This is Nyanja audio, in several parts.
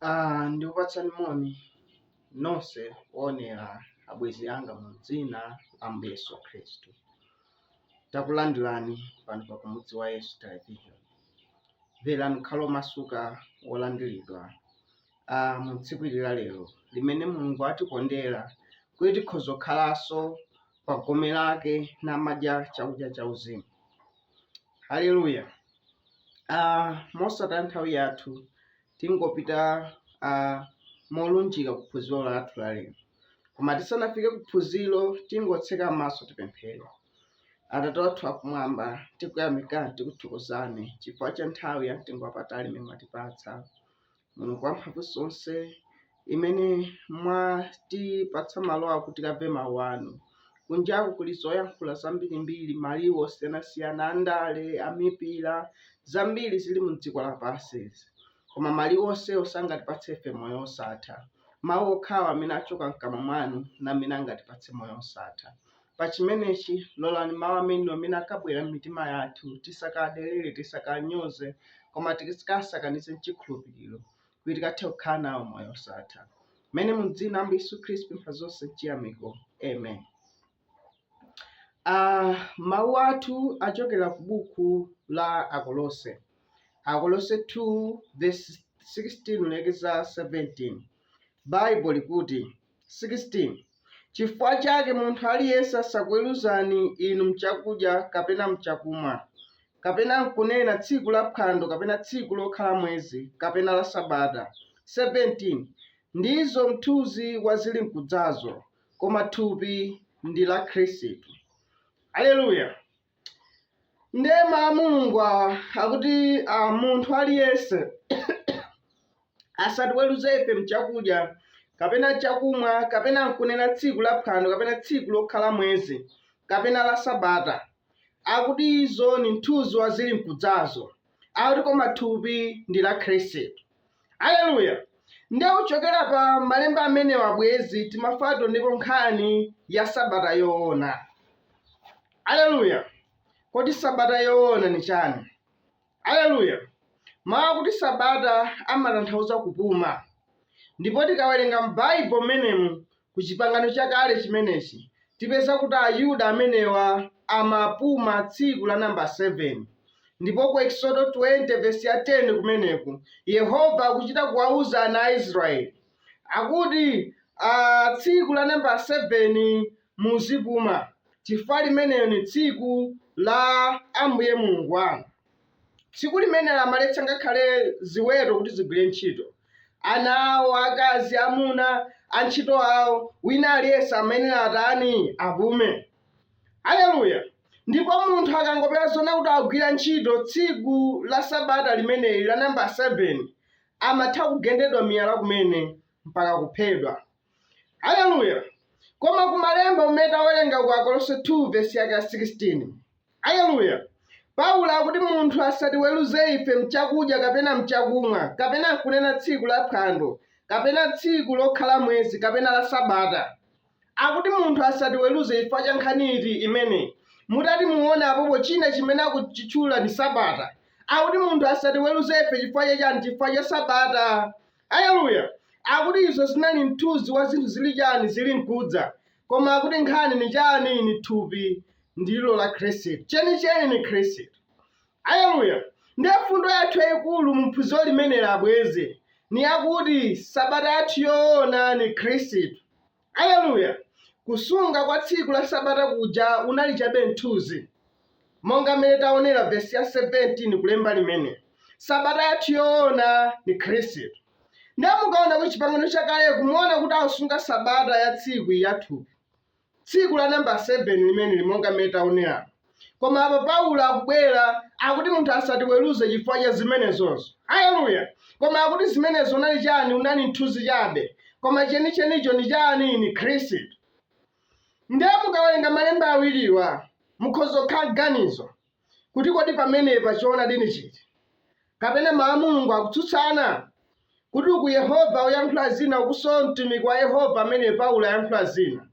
Ah, ndikupatsani moni nonse oonera abwenzi anga mu dzina la Ambuye Yesu Khristu. Takulandirani pano pa kumudzi wa Yesu Television. Mverani mukhale omasuka wolandiridwa ah, mu tsiku ili la lero limene Mulungu atikondera kuti tikhoze kukhalanso pa gome lake n'kumadya chakudya chauzimu. Haleluya. Uh, mosataya nthawi yathu tingopita uh, molunjika ku phunziro lathu la lero koma tisanafike ku phunziro tingotseka maso tipemphere atate wathu akumwamba tikuyamikani tikuthokozani chifukwa cha nthawi ya mtengo wapatali imene mwatipatsa mulungu wamphamvu zonse imene mwatipatsa malo akuti tikamve mawu anu kunjaku kuli zoyankhula zambirimbiri maliwu osiyanasiyana andale amipira zambiri zili mu dziko lapansi koma maliwu onsewo sangatipatse ife moyo wosatha mawu okhawa amene achoka mkamwa mwanu ndi amene angatipatse moyo wosatha Pa chimenechi, lolani mawu amenewa amene akabwera m'mitima yathu tisakawanyozere, tisakawanyoze, koma tikasakanize m'chikhulupiriro, kuti tikathe kukhala nawo moyo osatha. Mene mu dzina Ambuye Yesu Kristu mpha zonse mchiyamiko. Amen. Uh, mawu athu achokera ku buku la Akolose. Akolose 2 verse 16 kulekeza 17. Bible likuti 16 chifukwa chake munthu aliyense asakuweruzeni inu m'chakudya kapena m'chakumwa, kapena m'kunena tsiku la phwando kapena tsiku lokhala mwezi, kapena la sabata, 17 ndizo mthunzi wa zilinkudzazo, koma thupi ndi la Khristu. Aleluya. ndiye mawu a mulungu awa akuti ah, munthu aliyense asatiweruze ife mchakudya kapena chakumwa kapena nkunena tsiku la phwando kapena tsiku lokhala mwezi kapena la sabata akuti izo ni mthunzi wa zili nkudzazo akuti koma thupi ndi la khristu aleluya nde kuchokera pa malemba amenewa abwenzi timafuna tioneko nkhani ya sabata yoona aleluya kodi sabata yoona ni chani aleluya mawu akuti sabata amatanthauza kupuma ndipo tikawerenga m'baibo mmenemu ku Chipangano Chakale chimenechi, tipeza kuti Ayuda amenewa amapuma tsiku la namba 7. Ndipo ku Eksodo 20 vesi ya 10 kumeneku, Yehova akuchita kuwauza ana a Israeli, akuti, a, tsiku la namba 7 muzipuma, chifukwa limenelo ndi tsiku la Ambuye Mulungu wanu. Tsiku limenelo amaletsa ngakhale ziweto kuti zigwire ntchito. Ana awo, akazi, amuna, antchito awo, wina aliyense amayenera atani? Apume. Aleluya! Ndipo munthu akangopezedwa zoona kuti agwira ntchito tsiku la Sabata limeneli la nambala 7, amatha kugendedwa miyala kumene mpaka kuphedwa. Aleluya! Koma kumalemba amene tawerenga ku Akolose 2 vesi yake ya 16. Aleluya! Paulo akuti munthu asatiweruze ife mchakudya kapena mchakumwa, kapena nkunena tsiku la phwando, kapena tsiku lokhala mwezi, kapena la sabata. Akuti munthu asatiweruze chifukwa cha nkhani iti imeneyi. Mutati muone apopo china chimene akuchitchula ni sabata. Akuti munthu asatiweruze ife chifukwa cha chani? Chifukwa cha sabata. Aleluya! Akuti izo zinali mthunzi wa zinthu zili chani zili nkudza, koma akuti nkhani ni chani, ni thupi ndilo la Khristu, chenicheni ni Khristu. Aleluya! Ndiye mfundo yathu yayikulu mu phunziro limeneli abwenzi, ni yakuti sabata yathu yoona ni Khristu. Aleluya! Kusunga kwa tsiku la Sabata kuja unali chabe mthunzi. Monga mmene taonera vesi ya 17 kulemba limeneli, Sabata yathu yoona ni Khristu. Ndiye mukaona ku Chipangano Chakaleku muona kuti akusunga Sabata ya tsiku iyi ya thupi, tsiku la namba 7 limeneli monga mmene taoneramu. Koma apa Paulo akubwera, akuti munthu asatiweruze chifukwa cha zimenezozo. Aleluya! Koma akuti zimenezo unali chani? Unali mthunzi chabe, koma chenichenicho ni chani? Ni Khristu. Ndiye mukawerenga malemba awiriwa, mukhoza kukhala mganizo kuti kodi pamenepa choonadi ni chiti, kapena mawu a Mulungu akutsutsana kuti uku Yehova uyankhula zina ukuso mtumiki wa Yehova amene Paulo ayankhula zina.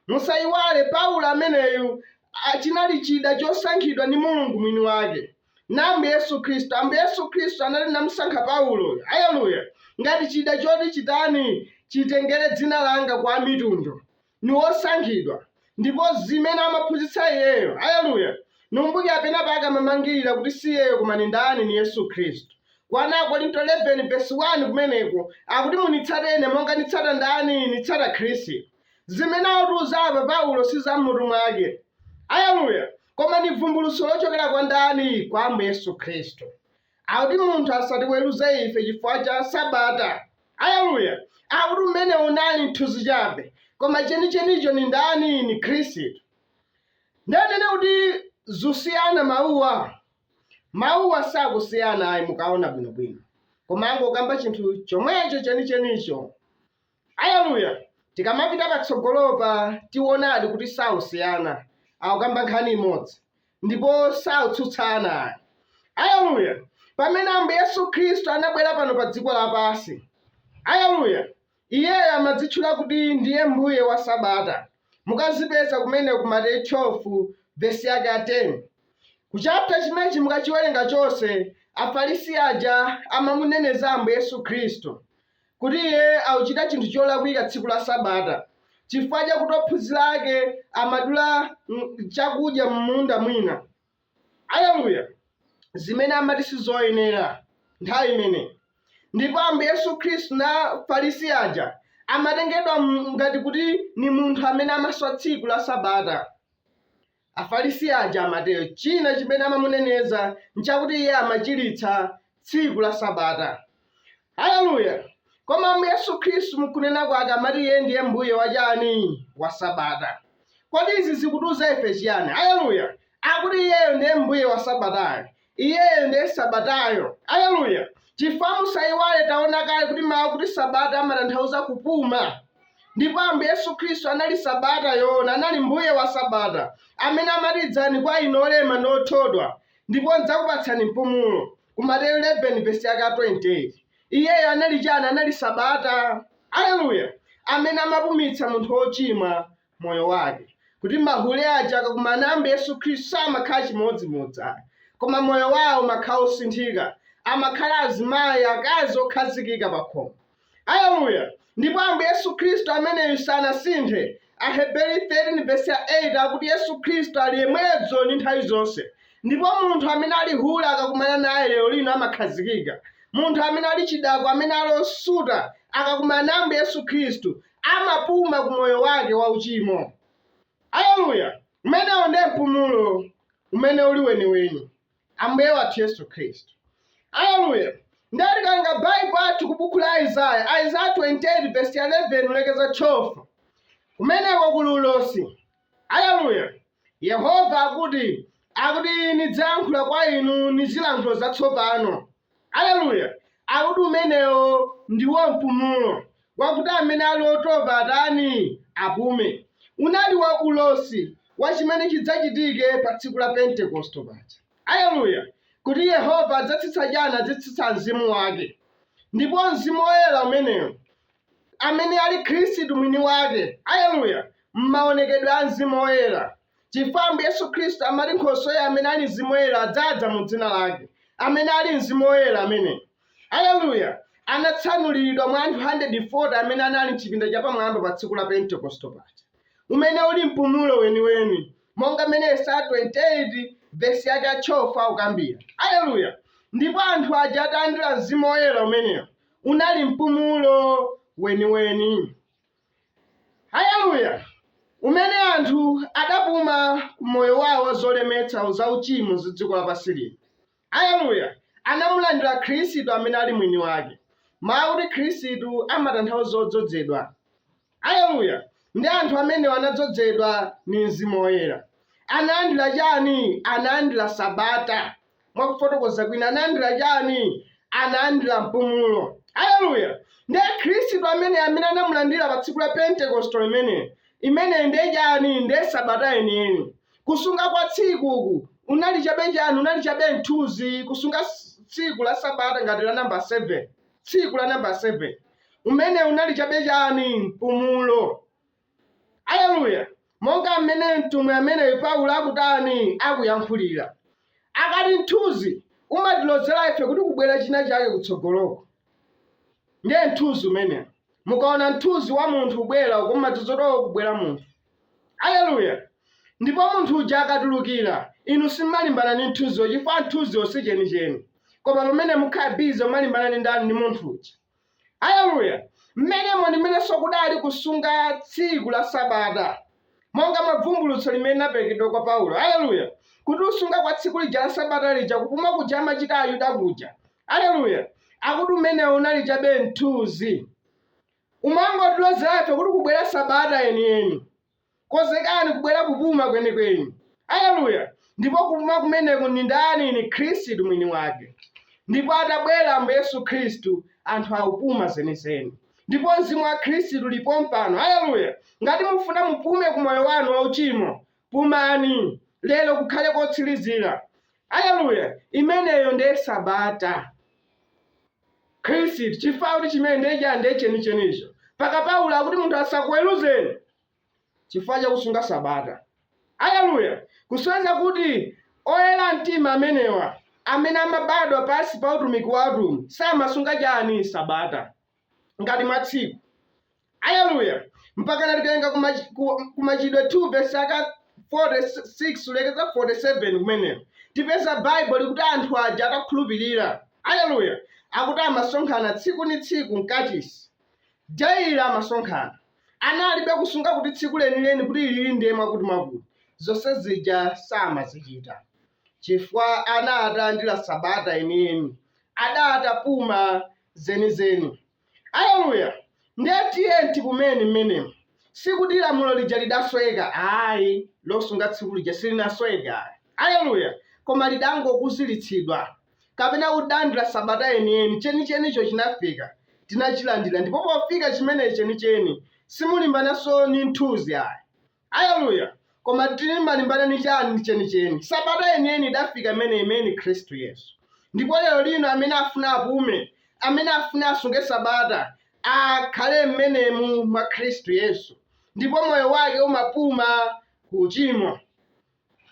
Musaiwale, Paulo ameneyu, a, chinali chida chosankhidwa ndi Mulungu mwini wake, na Ambuye Yesu Khristu. Ambuye Yesu Khristu anati namusankha Paulo, aleluya, ngati chida choti chitani, chitengere dzina lawo kwa Amitundu. Ni wosankhidwa, ndipo zimene amaphunzitsa iyeyo, aleluya, nikumbukira penapake amamangirira kuti si iyeyo koma ni ndani, ni Yesu Khristu. Kwa 1 Akorinto 11 vesi 1 kumeneko akuti munitsate ine monga nitsata ndani nitsata khristu zimene akutiuza apa paulo si za m'mutu mwake aleluya koma ni vumbulutso lochokera kwa ndani kwa ambuye yesu khristu akuti munthu asatiweruze ife chifukwa cha sabata aleluya akuti umene unali mthunzi chabe koma chenichenicho ni ndani ni khristu ndanena kuti zusiyana mawuwa Mawuwa sakusiyana ayi mukaona bwinobwino, koma angokamba chinthu chomwecho chenichenicho. Aleluya! Tikamapita patsogolopa tionadi kuti sakusiyana, akukamba nkhani imodzi ndipo sakutsutsana ayi. Aleluya! Pamene Ambuye Yesu Khristu anabwera pano pa dziko lapansi, aleluya, Iyeyo amadzitchula kuti ndiye Mbuye wa Sabata. Mukazipeza kumene ku Mateyu 12 vesi yake ya 10. Ku chapter chimenechi mukachiwerenga chonse, Afarisi aja amamuneneza Ambuye Yesu Khristu kuti Iye akuchita chinthu cholakwika tsiku la Sabata chifukwa chakuti ophunzira ake amathyola chakudya m'munda mwina. Aleluya! zimene amati sizoyenera, nthawi imene ija. Ndipo Ambuye Yesu Khristu na Afalisi aja amatengedwa ngati kuti ni munthu amene amaswa tsiku la Sabata. Afalisi aja amatero. China chimene amamuneneza nchakuti iye amachilitsa tsiku la sabata haleluya koma ambuye yesu khristu mkunena kwake amati iye ndiye mbuye wachani wa sabata kodi izi zikutiuza ife chiyani haleluya akuti iyeyo ndiye mbuye wa sabatayo iyeyo ndiye sabatayo haleluya chifukwa musaiwale taona kale kuti mawu kuti sabata amatanthauza kupuma ndipo ambuye yesu khristu anali sabata yoona anali mbuye wa sabata amene amati idzani kwa ine olema ndi othodwa ndipo ndidzakupatsani mpumulo. Ku Mateyu 11 vesi yake ya 28 iyeyo anali chani? Anali Sabata, aleluya, amene amapumitsa munthu wochimwa moyo wake, kuti mahule aja akakumana ndi Ambuye Yesu Khristu samakhala chimodzimodzi ayi, koma moyo wawo umakhala wosinthika, amakhala azimayi, akazi okhazikika pakhomo. Aleluya! Ndipo Ambuye Yesu Khristu ameneyu sanasinthe. Aheberi 13 vesi ya 8 akuti Yesu Khristu ali yemweyo dzulo ndi nthawi zonse. Ndipo munthu amene ali hule akakumana naye lero lino amakhazikika. Munthu amene ali chidakwa, amene ali osuta, akakumana na Ambuye Yesu Khristu, amapuma ku moyo wake wauchimo. Aleluya! Umenewo ndiye mpumulo umene uli weniweni. Ambuye wathu Yesu Khristu. Aleluya! Ndiye tikatenga Baibulo athu ku buku la Aizaya, Aizaya 28 vesi ya 11 kulekeza 12, kumeneko kuli ulosi. Aleluya! Yehova akuti, akuti, Nidzayankhula kwa inu ni zilankhulo zatsopano, Aleluya! Akuti umenewo ndiwo mpumulo, wakuti amene ali otopa atani? apume. Unali wa, ulosi wa chimene chidzachitike pa Tsiku la Pentekoste paja. Aleluya! Kuti Yehova adzatsitsa, adzatsitsa Mzimu Wake. Ndipo Mzimu Woyera umenewo, amene ali Khristu Mwiniwake, aleluya, mmawonekedwe a Mzimu Woyera. Chifukwa Ambuye Yesu Khristu amati nkhosweyi amene ali mzimu woyera adzadza mu dzina lake, amene ali mzimu woyera ameneyi, aleluya, anatsanulirika mwa anthu 140 amene anali m'chipinda chapamwamba pa tsiku la Pentekosto paja, umene uli mpumulo weniweni, monga mmene Yesaya 28 vesi yake ya 12 akukambira. Aleluya! Ndipo anthu aja atalandira mzimu woyera umenewo, unali mpumulo weniweni. Haleluya! umene anthu adapuma ku moyo wao wa zolemetsa za uchimo za dziko lapansi lino, Haleluya! namulandira Khristu amene ali mwini wake. Mau akuti Khristu amatanthauza odzodzedwa. Haleluya! ndi anthu amenewa anadzodzedwa ndi Mzimu Woyera. Analandira chani? Analandira Sabata. mwa kufotokoza kwina analandira chani analandira mpumulo haleluya ndiye khristu amene amene anamulandira pa tsiku la pentekosto imene imene ndiye chani ndiye sabata yeniyeni kusunga kwa tsikuku unali chabe chani unali chabe mthuzi kusunga s- tsiku la sabata ngati la namba 7 tsiku la namba 7 umene unali chabe chani mpumulo Aleluya! Monga mmene mtumwi ameneyu Paulo akutani, akuyankhulira. Akuti, Mthunzi umatilozera ife kuti kubwera chinachake kutsogoloko. Ndiye mthunzi umenewo. Mukaona mthunzi wa munthu ubwera uko mmadziwa uko kubwera munthu. Aleluya! Ndipo munthu uja akatulukira, inu simalimbana ndi mthunziwo chifukwa mthunziwo si chenicheni. Koma pamene mukhala bize kumalimbana ndi ndani? Ndi munthu uja. Aleluya! Mmenemo ndi mmenenso kudali kusunga tsiku la Sabata, monga mwa bvumbulutso limene linaperekedwa kwa Paulo. Aleluya! Akuti kusunga kwa tsiku lija la Sabata lija, kupuma kuja amachita Ayuda kuja. Aleluya! Akuti umenewo unali chabe mthuzi. Umangotilozera ife kuti kubwera Sabata yeniyeni. Konzekani kubwera kupuma kwenikweni. Aleluya! Ndipo kupuma kumeneko ndi ndani? Ni Khristu Mwiniwake. Ndipo atabwera Ambuye Yesu Khristu, anthu akupuma zenizeni. Ndipo Mzimu wa Khristu uli pompano. Aleluya! Ngati mufuna mupume ku moyo wanu wauchimo, pumani. Lero kukhale kotsirizira. Aleluya! Imeneyo ndiye sabata. khristu chifukwa akuti chimene ndiye cha ndiye chenichenicho mpaka paulo akuti munthu asakuweruzeni chifukwa chakusunga sabata aleluya kusonyeza kuti oyera mtima amenewa amene amabadwa pansi pa utumiki wa atumwi samasunga chani sabata ngati mwa tsiku Aleluya! Mpakana tikawerenga ku machi- ku- ku Machitidwe 2 vesi yake 46 kulekeza 47 kumeneko tipeza Baibulo likuti anthu aja atakhulupirira, aleluya, akuti amasonkhana tsiku ni tsiku mkachisi daily amasonkhana analibe kusunga kuti tsiku lenileni kuti ili ndiye mwakuti mwakuti zonse zija samazichita chifukwa ana atalandira sabata yeniyeni adatapuma zenizeni Aleluya! Ndiye tiyeni tipumeni mmenemo. Sikuti lamulo lija lidasweka, ayi, losunga tsiku lija silinasweke ayi. Aleluya! Koma lidangokuziritsidwa, kapena kuti tidalandira sabata yeniyeni, chenichenicho chinafika, tinachilandira. Ndipo pofika chimene chenicheni, simulimbananso ndi mthunzi ayi. Aleluya! Koma timalimbana ni chani chenicheni? Sabata yeniyeni idafika imene ni Khristu Yesu. Ndipo lero lino amene afuna apume, amene afuna asunge Sabata, akhale m'menemo mwa Khristu Yesu. Ndipo moyo wake umapuma ku uchimo.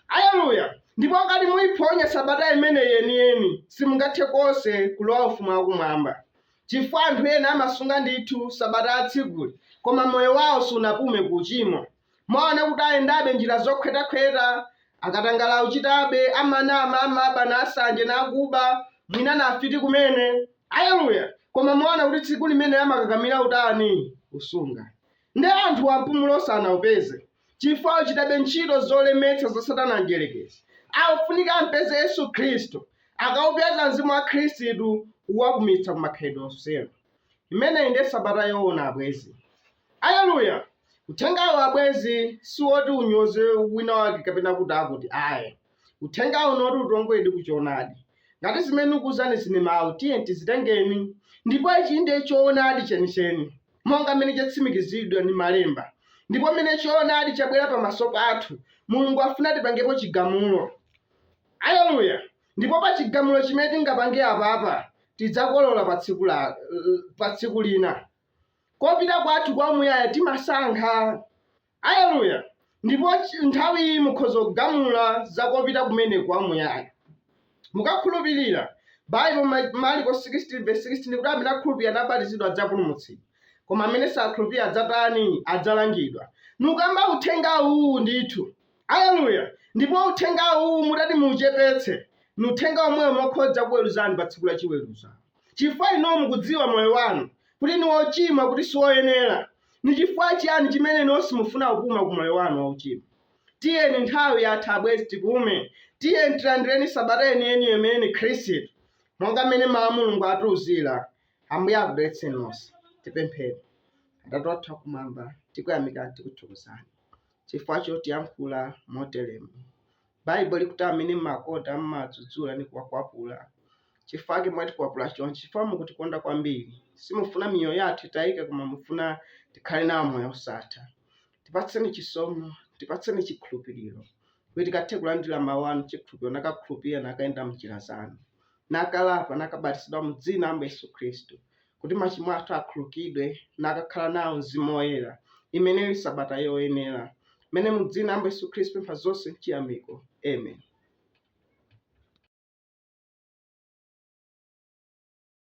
Aleluya! Ndipo ngati muiphonya sabata imeneyi yeniyeni, simungathe konse kulowa Ufumu wa Kumwamba, chifukwa anthu ena amasunga ndithu sabata ya tsikuli, koma moyo wao sunapume ku uchimo. Mwaona kuti ayendabe njira zokhotakhota, katangale auchitabe, amanama, amaba, nasanje, nakuba, mwina nafiti kumene. Aleluya! Koma mwaona kuti tsiku limeneli amakakamira utani? Kusunga. Nde anthuwa mpumulo sanaupeze. chifukwa achitabe ntchito zolemetsa za Satana Mdyerekezi. Akufunika ampeze Yesu Khristu, akaupeza Mzimu wa Khristu uwapumitsa ku makhalidwe onsewo. Imeneyi ndiye sabata yoona abwenzi. Aleluya! Uthengawu abwenzi si woti unyoze wina wake kapena kuti akuti ayi. Uthengawu ngwoti utiwongoleredi ku choonadi. Ngati zimene ndikukuwuzani zili m'mawu, tiyeni tizitengeni. Ndipo ichi ndiye choonadi chenicheni, monga mmene chatsimikizidwa ndi Malemba. Ndipo mmene choonadi chabwera pamaso pathu, Mulungu afuna tipangepo chigamulo. Aleluya! Ndipo pa chigamulo chimene tingapange apapa, tidzakolola pa tsiku la, pa tsiku lina. Kopita kwathu kwa umuyaya timasankha. Aleluya! Ndipo ch- nthawi iyi mukhoza kugamula za kopita kumene kwa muyaya. Mukakhulupirira Bible ma- Marko 16 verse 16 likuti amene akhulupirira nabatizidwa adzapulumutsidwa, koma amene sakhulupirira adzatani? Adzalangidwa. Nikukamba uthenga uwu ndithu. Aleluya! Ndipo uthenga uwu mutati muuchepetse, ni uthenga omwewo wokhoza kuweruzani pa tsiku la chiweruzo. Chifukwa inuwo mukudziwa moyo wanu kuti ni wochimwa, kuti si woyenera, Ni chifukwa chiyani chimene inu simufuna kupuma ku moyo wanu wauchimo? Tiyeni, nthawi yatha, abwenzi, tipume. Tiyeni tilandireni sabata yeniyeni imene ni Khristu, monga mmene Mawu a Mulungu atiuzira. Ambuye akudalitseni nonse. Tipemphere. Atate wathu Akumwamba, tikuyamikani, tikuthokozani chifukwa chotiyankhula moteremu. Baibulo likuti amene mumakonda mumawadzudzula ndi kuwakwapula. Cifukwa cake mwatikwapula conci, cifukwa mukutikonda kwambili. Simufuna miyoyo yathu itaike koma mufuna tikhale nawo moyo wosatha. Tipatseni cisomo, tipatseni cikhulupililo, kuti tikathe kulandila mawu anu m'cikhulupililo, nakakhulupilila nakayenda m'njila zanu. nakalapa, nakabatizidwa mu dzina la Ambuye Yesu Khristu kuti machimo athu akhulukidwe, nakakhala nawo Mzimu Woyera. Imene ili sabata yoyenera imene mu dzina la Ambuye Yesu Khristu tipempha zonse mchiyamiko. Amen.